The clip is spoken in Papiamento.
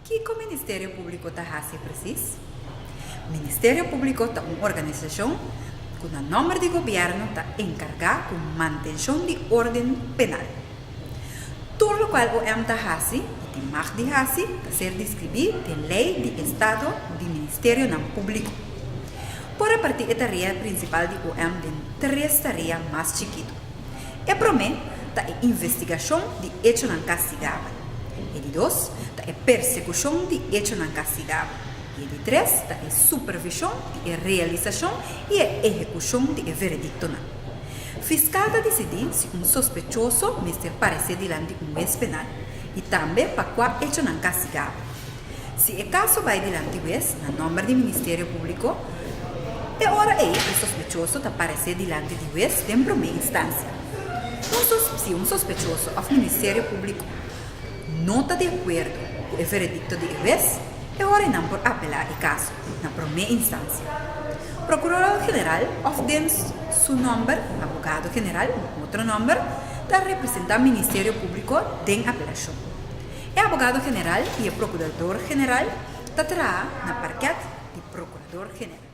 Kiko Ministerio Públiko ta hasi presis? Ministerio Públiko ta un organisashon ku na nòmber di gobièrnu ta enkargá ku mantenshon di órden penal. Tur lokual OM ta hasi o tin mag di hasi ta ser diskribí den Lei di Estado di Ministerionan Públiko. Por repartí e tarea prinsipal di OM den tres tarea mas chikitu. E promé ta e investigashon di echonan kastigabel, e di dos ta e persekushon di echonan kastigabel i e di tres ta e supervishon di e realisashon i e ehekushon di e verediktonan. Fiskal ta disidí si un sospechoso mester paresé dilanti di un wes penal i tambe pa kua echonan kastigabel. Si e kaso bai dilanti wes na nòmber di Ministerio Públiko, e ora ei e sospechoso ta paresé dilanti di wes den promé instansia. Si un sospechoso òf Ministerio Públiko no ta di akuerdo ku e veredikto di e wes, e ora einan por apelá e kaso. na promé instansia, Prokurador General òf den su nòmber, Abogado General, na otro nòmber, ta representá Ministerio Públiko den apelashon. E Abogado General i e Prokurador General ta traha na parkèt di Prokurador General.